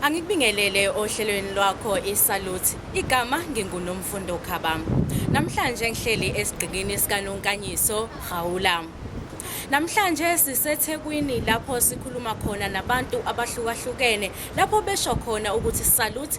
Angikubingelele ohlelweni lwakho iSalute. Igama nginguNomfundo Khabam. Namhlanje ngihleli esigqikini sikaNonkanyiso Gawula. Namhlanje siseThekwini lapho sikhuluma khona nabantu abahlukahlukene lapho besho khona ukuthi Salute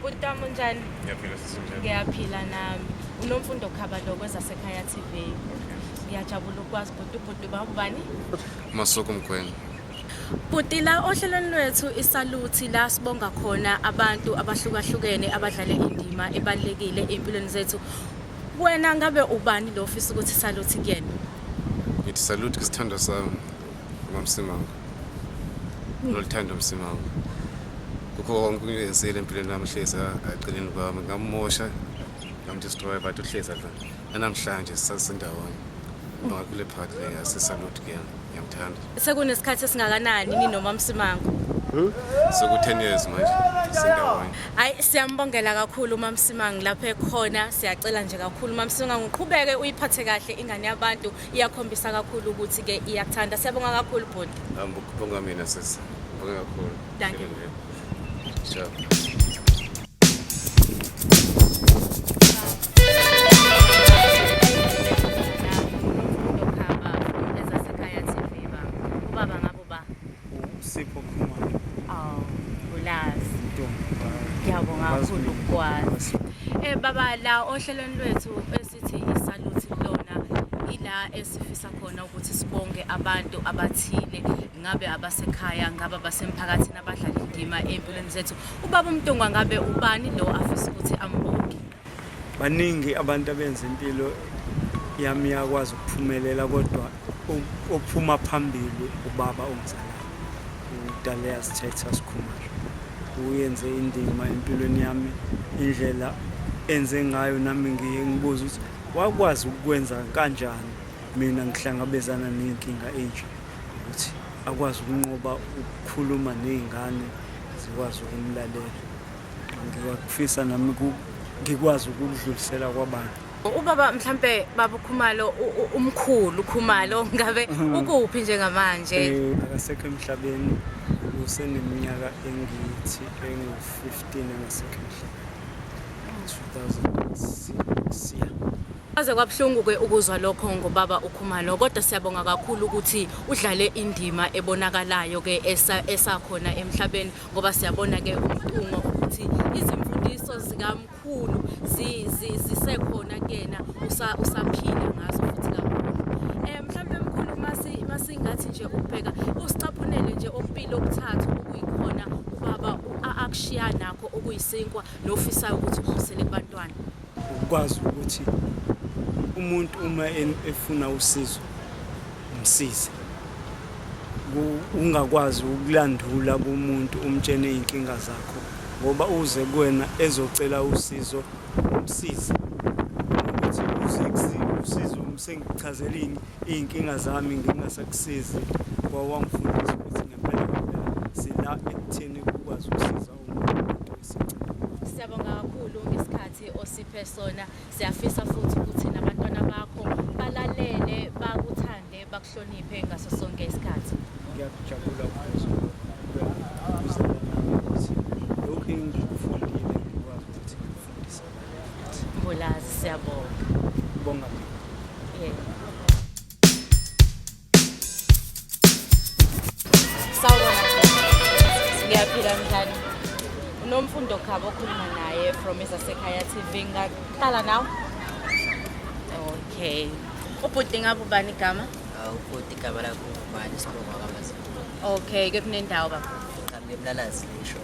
Bhuti wami unjani? Ngiyaphila sisi unjani? Ngiyaphila nami. Unomfundo Khabalo kwezasekhaya TV. Ngiyajabula ukwazi bhuti ubhuti babani? Masuku Mgwenya. Bhuti la ohlelweni lwethu isaluthi la sibonga khona abantu abahlukahlukene abadlale indima ebalekile empilweni zethu. Wena ngabe ubani lo ofisa ukuthi saluthi kuyena? Ngithi saluthi kusithandwa sami. Mamsimanga. lolithanda umsimamo kukho konke engenzile empilweni yami hlezi agcineni kwami ngamumosha ngamdestroya but uhlezi adla nanamhlanje sisasendawonye ngakule part le yasesalute kuyena ngiyamthanda sekunesikhathi esingakanani ni noma msimango hmm? seku-10 years manje sindawonye hayi siyambongela kakhulu umamsimango lapho ekhona siyacela nje kakhulu umamsimango uqhubeke uyiphathe kahle ingane yabantu iyakhombisa kakhulu ukuthi ke iyakuthanda siyabonga kakhulu bhuti ngibonga mina sisi ngibonga kakhulu Thank you. Sure. Sipho Khumalo. Oh, ulazi. Ntombi. Ngiyabonga kakhulu ukwazi. Eh baba la ohlelweni lwethu Sithi isaluthi lona ila esifisa khona ukuthi sibonge abantu abathile ngabe abasekhaya ngabe abasemphakathini abadlala indima empilweni zethu ubaba umntungwa ngabe ubani lo afisa ukuthi ambonge baningi abantu abenza impilo yami yakwazi ukuphumelela kodwa Ophuma phambili ubaba ongizalayo uDalea Sithetha Sikhumalo uyenze indima empilweni yami indlela enze ngayo nami ngiye ngibuza ukuthi wakwazi ukwenza kanjani mina ngihlangabezana ney'nkinga enje ukuthi akwazi ukunqoba ukukhuluma ney'ngane zikwazi ukumlalela ngiyakufisa nami ngikwazi ukudlulisela kwabanye ubaba mhlambe baba ukhumalo umkhulu ukhumalo ngabe mhm. ukuphi njengamanje eh, akasekho emhlabeni useneminyaka engithi engu-15 engasekho emhlabeni 2006 ya Aze kwabuhlungu ke ukuzwa lokho ngobaba uKhumalo kodwa siyabonga kakhulu ukuthi udlale indima ebonakalayo ke esakhona emhlabeni ngoba siyabona ke umtungo ukuthi izimfundiso zika kakhulu zisekhona kuyena usaphila ngazo futhi kakhulu um mhlawumbe mkhulu masingathi nje ukubheka usicaphunele nje okumpilo okuthathu okuyikhona ubaba akushiya nakho okuyisinkwa nofisayo ukuthi ukubusele kubantwana ukwazi ukuthi umuntu uma efuna usizo Msize. Ungakwazi ukulandula kumuntu umtshene izinkinga zakho ngoba uze kuwena ezocela usizo umsize. Ukuthi uze usizo sengichazelini izinkinga zami ngingasakusizi kwawangifundisa ukuthi ngempela ngempela sila ekutheni ukwazi ukusiza umuntu. Siyabonga kakhulu ngesikhathi osiphe sona. Siyafisa futhi ukuthi nabantwana bakho balalele, bakuthande, bakuhloniphe ngaso sonke isikhathi. Ngiyakujabula ukuzwa lokhu engikufundile ngikwazi ukuthi ngikufundise abanye futhi. Mbulazi, siyabonga. Bonga mina. Yeah. unomfundo khaba okhuluma naye from ezasekhaya tv ngaqala nawe okay ubhuti ngabe ubani igama ubhuti igama lakho ubani sibonga kwamazi okay ke kunendawo baba ngichambe emlalazi lisho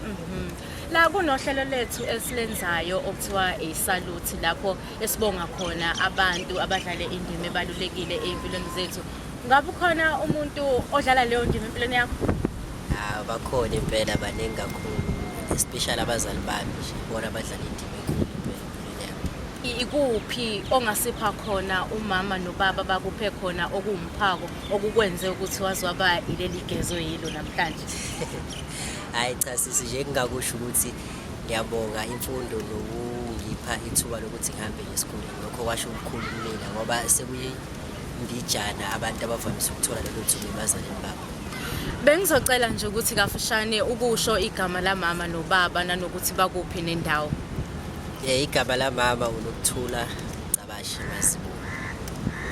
mhm. la kunohlelo lethu esilenzayo okuthiwa isaluthi lapho esibonga khona abantu abadlale indima ebalulekile ey'mpilweni zethu ngabe ukhona umuntu odlala leyo ndima empilweni yakho hawu bakhona impela baningi kakhulu especially abazali bami nje bona abadlala indima enkulu impela empilweni yami I- ikuphi ongasipha khona umama nobaba bakuphe khona okuwumphako okukwenze ukuthi waze waba ileli gezo yilo namhlanje hhayi cha sisi nje ngingakusho ukuthi Ngiyabonga imfundo nokungipha ithuba lokuthi ngihambe esikoleni. Lokho kwasho ukukhulu kumina ngoba sekuyindijana abantu abavamise ukuthola lelo thuba ebazalini babo. Bengizocela nje ukuthi kafushane ukusho igama lamama nobaba nanokuthi bakuphi nendawo. Eh igama lamama uNokuthula Cabashe Masibu.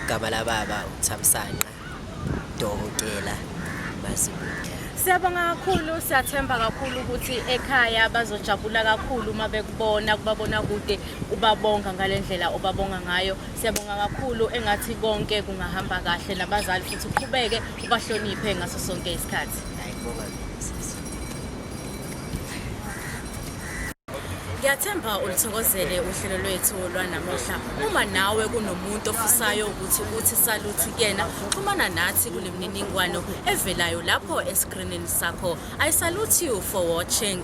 Igama lababa uThamsanqa Dokotela basibuke. Siyabonga kakhulu siyathemba kakhulu ukuthi ekhaya bazojabula kakhulu uma bekubona kubabona kude ubabonga ngalendlela obabonga ngayo siyabonga kakhulu engathi konke kungahamba kahle nabazali futhi uqhubeke ubahloniphe ngaso sonke isikhathi. Ayibonga. Ngiyathemba ulithokozele uhlelo lwethu lwanamuhla. Uma nawe kunomuntu ofisayo ukuthi uthi saluthi kuyena, xhumana nathi kule mininingwano evelayo lapho esikrinini sakho. I salute you for watching.